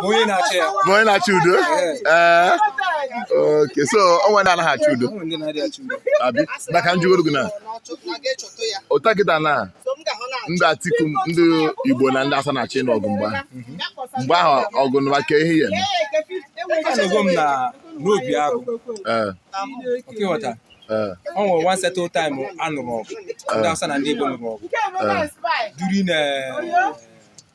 onye na-achị ya bụ onye na-achọ udo ee oke so o nwe ndị anaghị achọ udo abi maka njụgoro gị na ụta kịta na ndị atiku ndị igbo na ndị awụsa na-achị n'ọgụ mgbe ahụ mgbe ahụ ọgụ nụwa ka ihe ya eme anọgo m na n'Obiagụ ee oke ghọta ee ọ nwere one certain time a nụrụ ọgụ ndị Hausa na ndị Igbo nụrụ ọgụ during eh,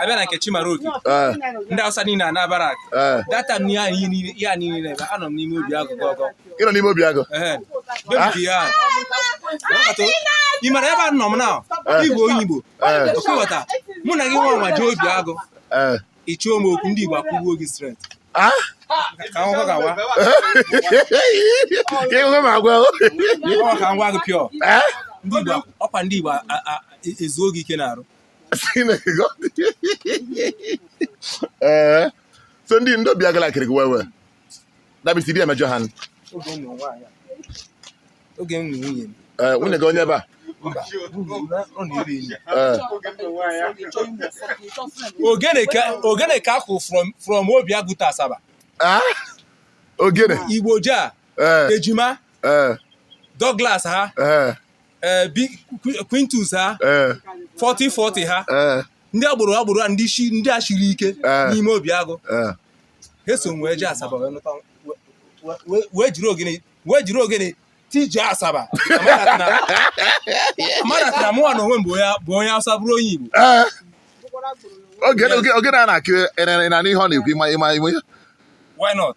abịa na nke Chimaroke eh. ndị awụsa niile anaa barrack eh. that time ihe a niile na-eme anọ m n'ime Obiagụ gọgọ ị nọ n'ime Obiagụ ah. ị mara ebe a nọ m na eh. igwe onye igbo okewata mụ na gị nwa nwa jee Obiagụ ị chọọ m okwu ndị igbo akụgbuo gị straight ah? ịhụ m agwa ka ngwa gị pịọ ọkwa ndị igbo ezuo gị ike n'arụ Chineke ee eh, so ndị ndị Obiagụ like-ịrị gị well well dabisi di emejọ ha oge m nụ nwunye m eh, nwunye gị onye ebee eh. ogene ka a kụ from Obiagụ to Asaba ah? ogene igbo jaa ejima Douglas ha ee bi Qu- Quintus ha ee 4040 ha ee ndị agboro agboro a ndị shi ndị a shiri ike Eh. n'ime Obiagụ ee ha so wee jee Asaba wee nụta we- we- we- wee jiri ogene wee jiri ogene tije Asaba amanatara mụnwa na onwe m bụ onye bụ onye awụsa bụrụ onye igbo ee oge oge ogene a na-akụ ị na-anụ ihe ọ na-ekwu ị ma ị ma ị ma ihe why not